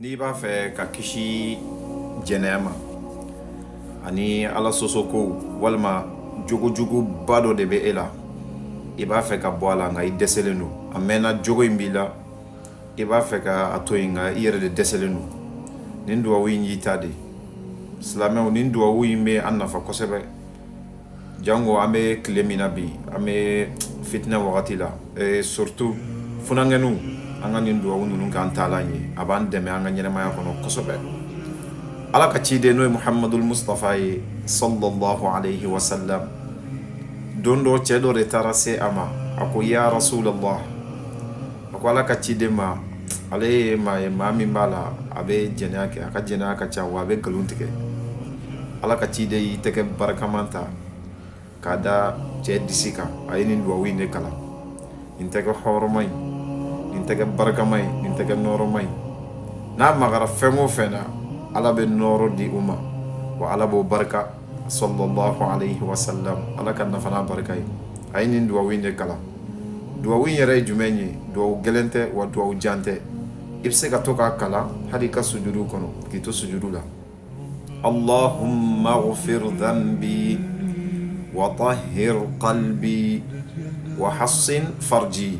n'i b'a fɛ ka kisi jɛnɛya ma ani ala sɔsɔko walima jogojuguba dɔ de bɛ e la i b'a fɛ ka bɔ a la nka i dɛsɛlen don a mɛnna jogo in b'i la i b'a fɛ ka a to yen nka i yɛrɛ de dɛsɛlen don nin duwawu in y'i ta de silamɛw nin duwawu in bɛ an nafa kosɛbɛ jango an bɛ tile min na bi an bɛ fitinɛ wagati la surtout funankɛninw an ka nin duwawu ninnu k'an taalan ye a b'an dɛmɛ an ka ɲɛnɛmaya kɔnɔ kosɛbɛ ala ka ciden n'o ye muhamadul mustafa ye sallallahu alayhi wa sallam don dɔ cɛ dɔ de taara se a ma a ko ya rasulallah a ko ala ka ciden ma ale ye maa ye maa min b'a la a bɛ jɛnɛya kɛ a ka jɛnɛya ka ca wa a bɛ nkalon tigɛ ala ka ciden y'i tɛgɛ barikaman ta k'a da cɛ disi kan a ye nin duwawu in de kalan nin tɛgɛ hɔrɔma in nin tɛgɛ barikama in nin tɛgɛ nɔrɔma in n'a magara fɛn o fɛn na ala bɛ nɔrɔ di u ma wa ala b'o barika sallallahu alayhi wa sallam ala k'an nafa n'a barika ye a ye nin duwawu in de kalan duwawu in yɛrɛ ye jumɛn ye duwawu gɛlɛn tɛ wa duwawu jan tɛ i bɛ se ka to k'a kalan hali i ka sujudu kɔnɔ k'i to sujudu la allahumma ghfir dhanbi wa tahhir qalbi wa hassin farji